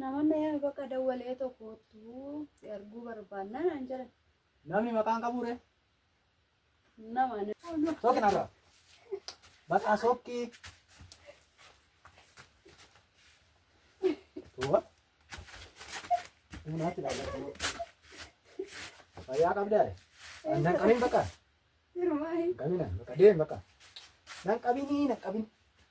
Namoonni eh, bakka dawwalee tokkoottu si arguu barbaanna naan jedhan. Namni maqaan qabuure. Nama nama. Sooki narra. Bakka sookki. Tuwa. Naatti laallatu. Fayyaa qabdaa? Nan qabin bakka. Sirumaa hin Qabina bakka deem bakka. Nan qabini nan qabin.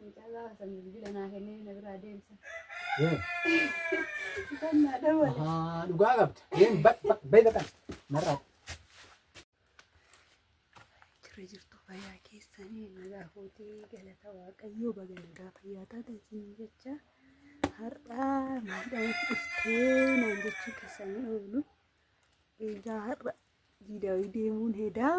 Mucaa gaafa san bilbila naa kennee na biraa deemsa. Kan naa dawwale. Ahaa, dhugaa qabda. Deem ba- ba- bayi baqan. Marraa. Jirra jirtu fayyaa keessanii nagaa kootee galata waaqayyoo baga nagaa fayyaa taatan siin jecha har'aa maadhaan dhuftee naan jechuu keessanii oolu. Egaa har'a diidaawii deemuun hedaa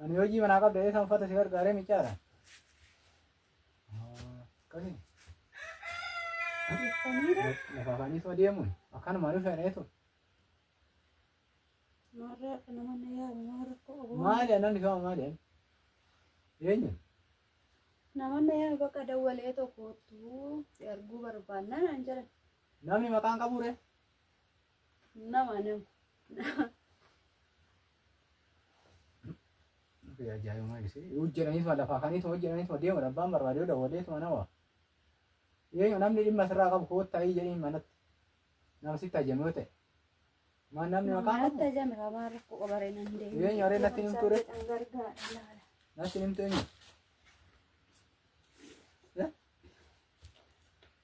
Ani hojii manaa qabda eessan uffata si gargaaree micaadha. Akkasii. Lafa afaanii soo deemuun akkanumaan dhufeen eetu. Maarraa akka nama na yaamu maa rakkoo qabu. Maali annan dhifaama maali ani? Eenyu? Nama na yaamu bakka dawwalee tokkoottu si arguu barbaannaan an jedhan. Namni maqaan qabuure? Nama nama. Ajaa'ibuma ibsee. Hojjetanii tuma lafaa kanii tuma hojjetanii tuma deemuudha. Abbaan barbaadee dawalee tuma nama. Eenyu namni dhimma sirraa qabu koottaa ii jedhee manatti. Nama sitti ajame yoo ta'e. Maan namni maqaa Manatti qabu. ajame kamaa rakkoo qabaree nan deemu. Eenyu aree natti himtuu ree? Kan gargaara laala. Natti himtu eenyu?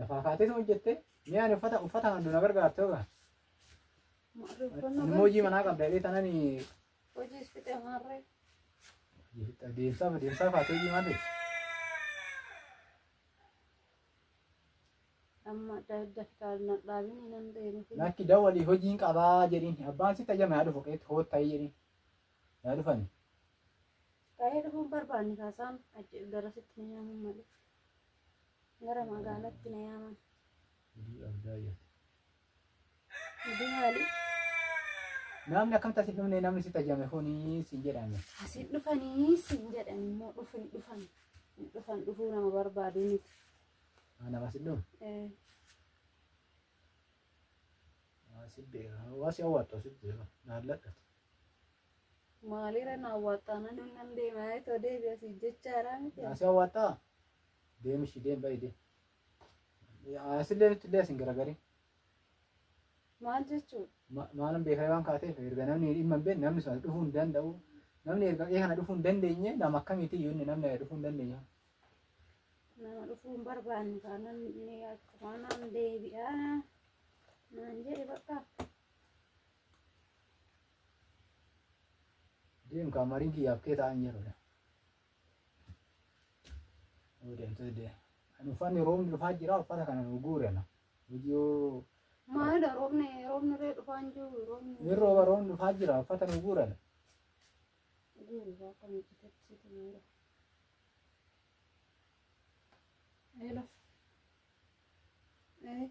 Lafaa kaatee sun hojjette mee ani uffata uffata handu na gargaarte oga. Inni hojii manaa qabda jedhee tanan Hojii isfixee maarree. deemsaa deemsaa kaatee hojii maal ta'e? Amma daftaar na dhaabin nan deemu. Lakki dawalii hojiin qabaa jedhin abbaan si tajaajila haa dhufu qeetti hoot ta'ee jedhin yaa dhufan Ta'ee dhufuun barbaanne kaasaan achi garasitti ni yaamu malee. Gara magaalatti na yaaman. Hojii addaa yaate. Hojii maali? Namni akkamitti asitti dhufne namni si tajjame kuni siin jedhame. Asiin dhufanii siin jedhan immoo dhufin dhufan. Hin Dhufan dhufuu nama barbaadu miti. Ah, Nama si dhufu. Eh, Ah, Si beeka. Waa si hawwattu asitti beeka. Naalladhati. Maalirra na awwaattaa nan nan deema itoo deebi asii jechaaraa miti. Asi awwaattaa? Deemi ishii deem ba'i deem. Asillee nutti illee asin garagarin. Maal jechuudha? Ma- Maalan beekaa waan kaateef erga namni dhimma hin beekne namni sun as dhufuu hin danda'u. Namni erga qe'ee kana dhufuu hin dandeenye nama akkamiiti iyyuu inni namni dhufuu hin dandeenye. Nama dhufuu hin barbaanne taanaan ni akkuma naan deebi'aa naan jedhe bakka. Deem kaa marii kiyyaaf kee ta'an jedhu. Yoo deemtee deem. Ani uffanni roobni dhufaa jira uffata kana nu guurena. Viidiyoo Maalidha roobni roobni irree dhufaa hin jiru roobni. hin rooba roobni dhufaa jira uffata nu guurena. Guuraa akka miidhagatti situ miidha. Eela. Ee.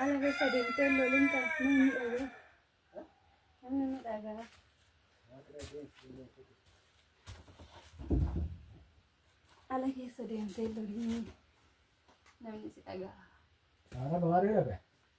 Ana keessa deemtee lolin kan namni dhagaa. Namni ni dhagaa. Ala keessa deemtee lolin namni si dhagaa. Ara baharee dhabe.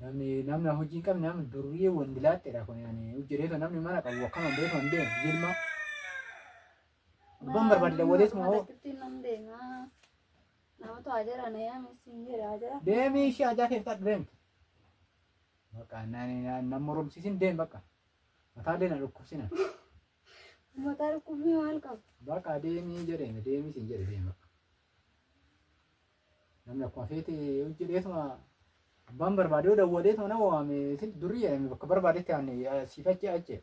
Namni namni hojii hin qabne namni durriyee wandi laattedha kun yaani hojjeteetu namni mana qabu akkana hin beeku hin deemu jilma. Abbaan barbaadde waliis moo Malattiin nan deema. Namatu ajara na yaame siin jedha ajara. deemii ishee ajaa keessa deemtu. Bakka naani nama moromsiisin deem bakka. Mataallee na dhukkubsina. Mataa dhukkubbii maal qabu? Bakka deemii jedheen deemii siin jedhe deem bakka. Namni akkuma feete hojjedheetuma abbaan barbaadee dawwaleetuma nama waame isin durii jedhame bakka barbaadetti aan siif achi achi.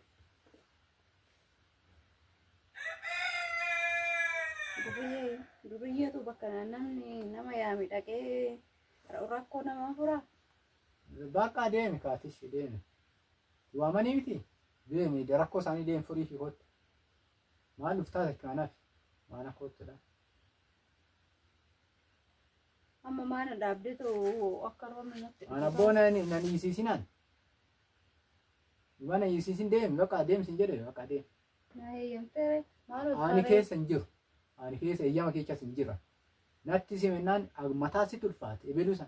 Duriyyee duriyyeetu bakka namni nama yaame dhaqee rakkoo namaa furaa. Bakka deemi kaatis deemi. Waamanii miti deemi rakkoo isaanii deemi furii fi kottu. Maal dhuftaa takka anaaf maana kottudha. Amma maana dhaabdee ta'u akka roobni natti Ana dhufu. boona ni nan isisinaan. Mana isisin deem bakka deem sin jedhe bakka deem. Na heeyyamteere maaloo Ani taaree. keessa hin jiru. Ani keessa eeyyama keechas hin jira. Natti simennaan mataa si tulfaate ebelusa.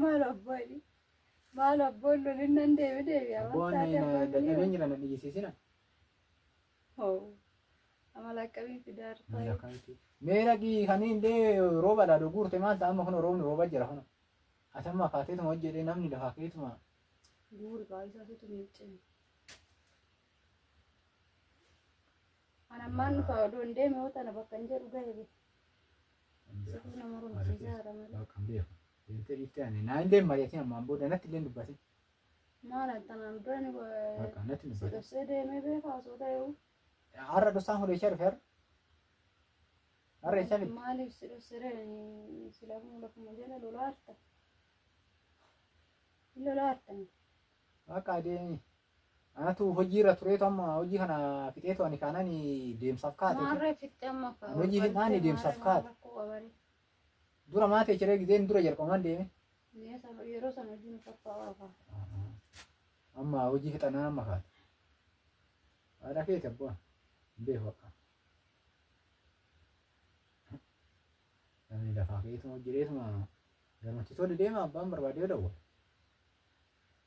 Maal abbooni? Maal abboon lolin nan deebi deebi Abboon amantaa na dadhabeen dadhabeen jira na dhiyeessisina. Amala akkamii fidaa Miila rufaa? kanti. Mee dhaqii kan indee rooba dhaa dhuguurte maal ta'a amma kun roobni rooba jira kun. Ati amma kaateetuma hojjedhee namni lafaa keetuma. Guuri baay'isaa situ miiccame. An ammaan dhufa odoo hin deeme yoo tana bakka hin jedhu gahe bee. Situu na moromsiisaa jira malee. Bakka hin beeku. Deemtee dhiiftee ani naa hin deemma jettee ammaan booda natti illee hin dubbatin. Maal an tanaan dura ni Bakka natti hin si dubbatin. dhossee deemee beekaa osoo ta'eewu. Har'a dhosaan kun eessaa dhufe har'a? Har'a eessaa fidde? Maaliif si dhossere silaafuu lafuma jala lolaarta. Hin lolaartan. Bakka adeemi. Anatu hojii irra tureetu amma hojii kana fixeetu ani kaanaan deemsaaf kaate. Maarree fixxee amma kaa. Ani hojii hin aane deemsaaf kaate. Dura maatee ciree gizeen dura jalqabumaan deeme. Yeroo sana hojii nu tokko oofa. Amma hojii fixannaan amma kaate. Haadha keeti abbaa. Hin beeku akka. Namni lafaa keetuma hojjeteetuma gamatti tole deema abbaan barbaadee dawwa.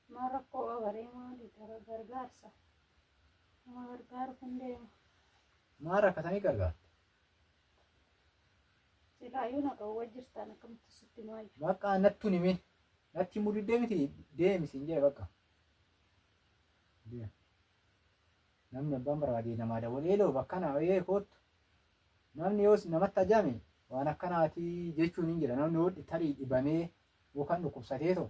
Maal rakkoo agaree maali gara gargaarsa nama gargaaru kun deema. Maal rakkatanii gargaarta? Silaayyuu na dhowwa jirtaan akkamitti sitti maayyu. Bakka nattu nimi. Natti himuu diddee miti deemi siin jedhe bakka. Deemi. Namni abbaan barbaade namaa dawwalee eeloo bakka naa wayee koottu. Namni yoos namatti ajame waan akkanaatii jechuun hin jira. Namni hodhi tarii dhibamee yookaan dhukkubsatee too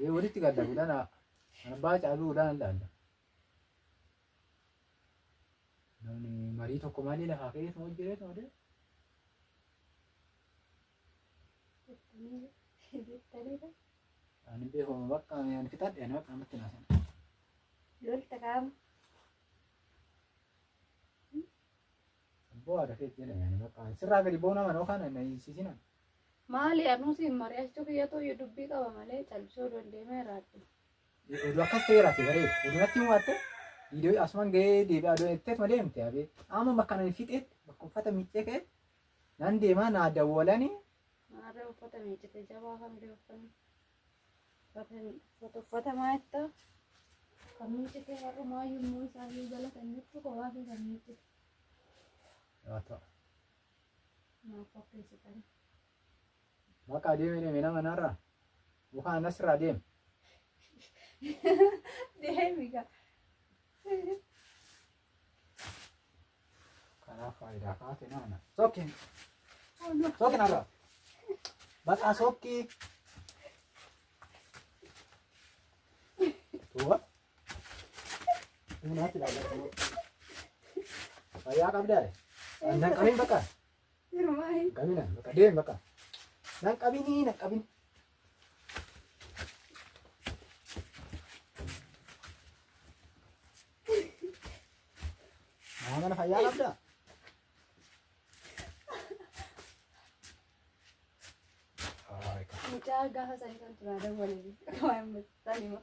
Ee, walitti gadda fuudhaan haa- ana baa caaluu fuudhaan hin dhaalla. Namni marii tokko malee lafaa ka'ee tuma hojjetee tuma deema. Ani beekuma bakka ani fixadhe ani bakka namatti naasan. Lolta qaama. Abboo haadha keetti jedhame ani bakka sirraa gadi ba'uu nama noo kana na hiisisinan. Maali anuu siin mari'achuu kiyyatu iyyuu dubbii qaba malee callisuu oduu hin deemee raadhu. Oduu akkas ta'e raate bareedu. Oduu natti himaatte viidiyoo asumaan gahee deebi'aa oduu jetteet ma deemte abee. Amma bakka nani fixeet bakka uffata miiccee ka'e nan deemaa naa dawwalanii Maarree uffata miiccite jabaa kan bira uffanni. Uffata uffata uffata maayetta. Kan miiccite warra maayyuu immoo isaanii galatan jechuudha kowaasii kan miiccite. haa ta'u. Maaf qopheessitan? Bakka adeemee deeme nama narraa. Mukaan asirraa deeme. Deemi gaa. Kanaaf faayidaa kaate nama na. Sokki. Sokki narraa. Bakka sokki. Tuuba. Fayyaa qabdaa? Nan qabin bakka. Qabina bakka deem bakka. Nan qabinii nan qabin. Maa mana fayyaa qabdaa? Mucaa gaafa sanii kan turaa dawwalee. Waan mucaa sanii moo.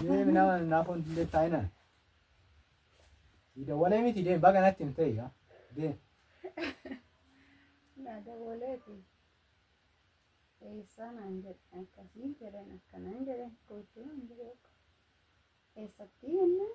Deemi nama naaf wanti hin taa'inaan. Siida walee miti deemi baga natti hin ta'e yaa. Deemi. Nada boleeti. Eessaa naan jedhe akkasii jedhan akkanaan jedhe gochuu naan jedhe eessatti jennaan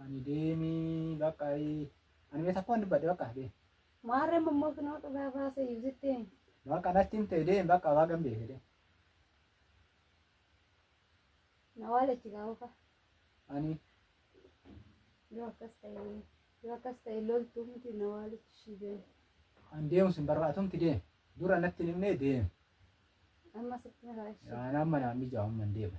Ani deemii bakka ayii. Ani mee takkumaan dubbadhe bakka deem. Maarree mammoo kunoo dhugaa baasa iyyuu jettee. Bakka natti himte deem bakka waa gambee fedhe. Na waalachi gaa'uufa. Ani Yoo akkas ta'e yoo akkas ta'e loltuu miti na waalachi ishii deemu. an deemu sin barbaatumti deem. Dura natti hin himne deem. Amma sitti miraa ishii. Yaa nama naan mijaa'u amma hin deemu.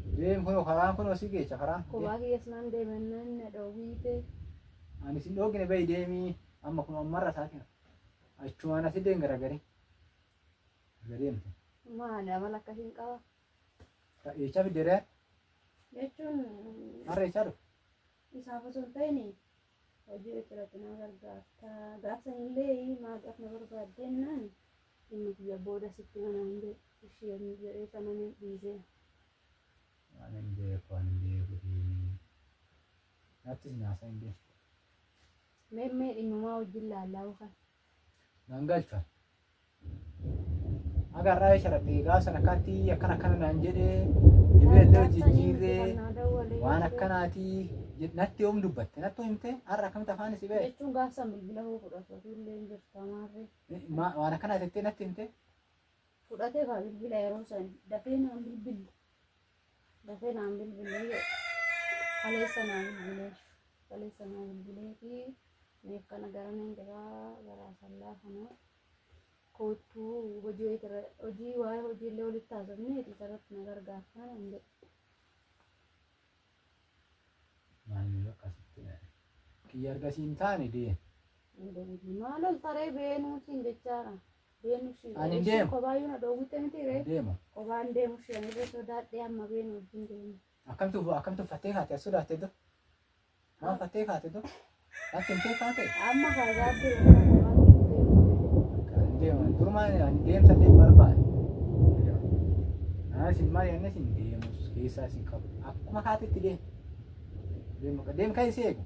Deem kunoo karaan kunoo si geecha karaan. Kophaa kiyyas naan deemannaan na dhoowwiite. Ani sin dhoogine bahi deemii amma kunoo ammarra saatiin achumaan asi deem garagarii. Erga deemte. Maali amala akkasiin qaba? Eechaa fiddeeree Jechuun harreechaa dhufu. isaaf osoo hin ta'in hojii irratti na gargaarta gaaf sanillee maadhaaf na barbaaddeen naan inni kiyya booda sitti manaan jedhe isheen jedhee sananii dhiisee waan hin beeku waan hin beeku deemee nattis naasaa hin beeku mee mee dhimmumaa wajjin laallaa ukan naan galcha. Haga har'aa isa dhabe egaa san akkaatti akkana akkana naan jedhee dhibee illee jijjiirree waan akkanaati jed- natti yoom dubbatte nattu himte har'a akkamitti afaan si ba'e jechuun gaafsan bilbila hoo fudhatu illee hin jirta maarree. Ma- waan akkanaati jettee natti himte fudhatee kaa bilbila yeroo san dafee naan bilbilli dafee naan bilbilli kaleessa naa bilbilee kaleessa naa bilbilee fi meef kana gara nan jiraa gara sallaa kana koottuu hojii wayii irra hojii waa'ee hojii illee walitti haasofnee itti sarratti na gargaartaa nan jedhe Maalummaa akkasitti dhahe. Kiyya argasiin taane dee. hin deebiin maal ol taree beenuu siin jechaadha Beenu ishii Ani ishii deema. kobaayyuu na dhoowwitte miti ree Deema. kobaan deemu ishii ani irra sodaadhee amma beenu wajjin deemu. Akkamtu akkamtu fattee kaate as sodaatte do. Waan fattee kaate do. Natti himtee kaate. Amma faagaatti irra kobaan deemu. Deema. Durumaa ani deemsa deemu barbaade. Naa isin maal yanne isin deemus keessaa isin qabu. Akkuma kaate itti deemu. Deemu deemu kan isii eegu.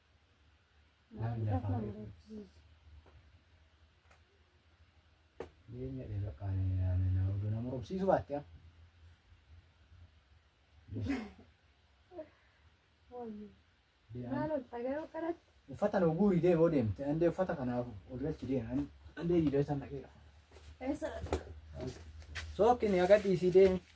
Jireenya dheeraa qaanii yaadanii na oduu nama robsiisu baatte haa. Uffata nu guuri deemoo deemte andee uffata kanaaf ol galchi deeman andee jiidhee san dhaqeera. Sookki ni agadhiisii deemi.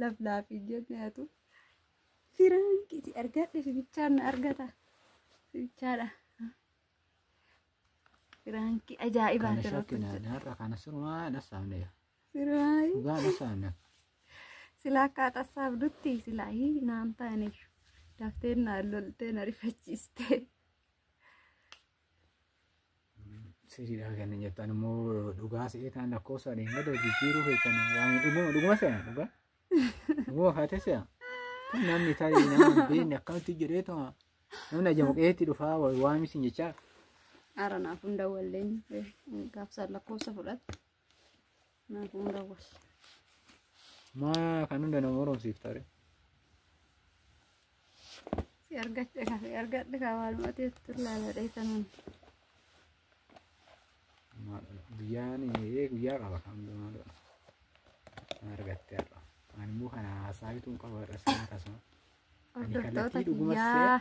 Laflaafi jenne atu. Firaanki si argadhe si bichaan na argata. Si bichaadha. Firaanki ajaa'ibaa Kana jira. shakki naan har'a kana sirumaa dhassaamne yaa. Siraayi. Dhugaa dhassaamne. Silaa akka haxassaaf dutti silaa hii naan taane. Dafteen naan loltee na rifachiistee. Siriidha kan jettan immoo dhugaa se'ee ta'an lakkoofsa dheen gadoo jijjiiruu keessan waan dhuguma dhuguma se'a dhugaa. Dhuguma kaatee se'a. Kun namni tarii nama hin beekne akkamitti jedhee ta'a. Namni ajamu qe'eetti dhufaa waamisiin jechaa. Ara naaf hunda walleen gaafsaan lakkoofsa fudhatte. Naa kun dawwas. Maa kan hunda nama moromsiiftare. Si argadhe ka si argadhe ka waanuma teettu laala dheessanuun. Guyyaan ee guyyaa qaba kan hunda maaloo. Kan argatte har'a. Ani immoo kana haasaa bituun qaba har'a sana tasuma. Hordoftoota kiyyaa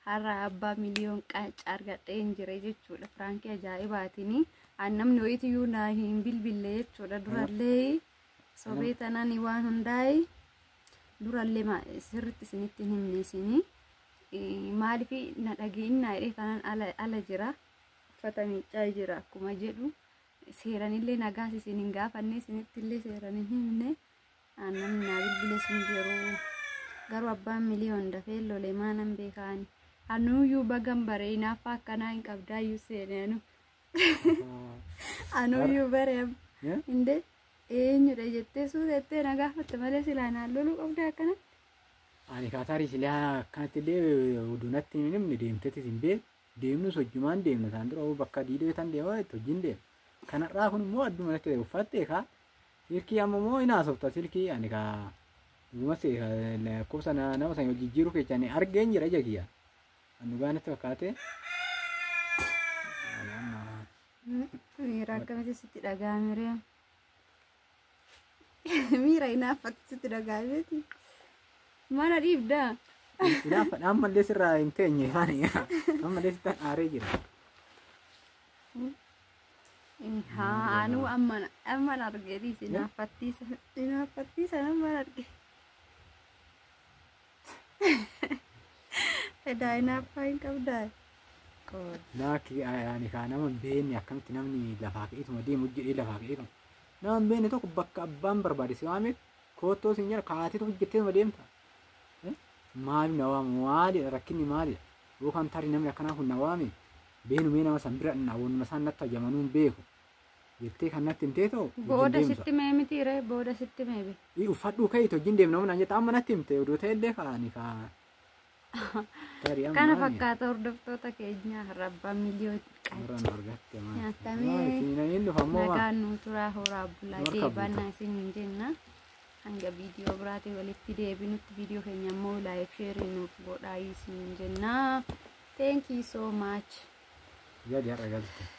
har'a abbaa miliyoon qanca argadhee hin jire jechuudha. Firaankii ajaa'ibaatini. An namni wayiitiyyuu naa hin bilbille jechuudha. Durallee sobee tanaan waan hundaa'e durallee ma- sirriitti isinitti hin himne isinii. Maaliif na dhageennaa jedhee tanaan ala, ala jira. Uffata miiccaa jira akkuma jedhu. Seeranillee nagaas isin hin gaafanne isinittillee seeran hin himne. Namni naa bilbiles hin jiru. Garuu abbaan miliyoon dafee lolee maalan beekaan. Anuuyyuu bagan bare inaaffaa akkanaa hin qabdaayyuu seene anu. Anuuyyuu bare amma. Indee eenyudha jettee suutettee na gaafatte malee silaa naan loluu qabda akkana. Ani kaataarii silaa akkanatti illee oduu natti hin himne deemtetis hin beeku. Deemnus hojjumaan deemna isaan dura bakka diidoo tan deemaa itti hojiin deema. Kanarraa kun immoo adduma natti ta'e uffattee kaa Silkii amma moo hin haasofta silkii ani ka dhuguma si lakkoofsa na- nama sana jijjiiruu kecha ani argeen jira ija kiyya. Kan dhugaa natti fakkaate. Ani amma Miira akkamitti sitti dhaga'ame ree? Miira hinaaffatti sitti dhaga'ameeti. Mana dhiibdaa? Ilaafa ammallee sirraa hin teenye ani ammallee sittan aaree jira. Haa anuu amman amman argeetii si naaffattiisa si naaffattiisa amman arge. Edaa inaaffaa hin qabdaa. Qoor. Laakki ani kaa nama hin beekne akkamitti namni lafaa ka'eetuma deemu jedhee lafaa ka'ee kan nama hin beekne tokko bakka abbaan barbaade si waamee koottoo siin jedha kaatee tokko jettee deemta. Maali na waamu maalidha rakkinni maalidha. Yookaan tarii namni akkanaa kun na waame beenu mee nama san bira dhaqna wanuma isaan natti hajamanuu hin beeku jettee kan natti himtee ta'u wajjin Booda deemsa. sitti mee miti ree booda sitti mee be. Ii uffadhuu ka'iitu wajjin deemna humnaan jette amma natti himte oduu ta'e illee kaa'ani kaa. Tarii amma Kana ani fakkaata hordoftoota keenyaa rabbaa miliyoon qacha. warraan argatte maal. Nyaatamee. Maal isin hin dhufa ammoo maal. Nagaan nuu turaa horaa bulaa Marka deebanna isin hin jenna. hanga viidiyoo biraatiin walitti deebinutti viidiyoo keenya immoo laayik sheerii nuuf godhaa isin jennaa thank you so much Gadi har'a galte.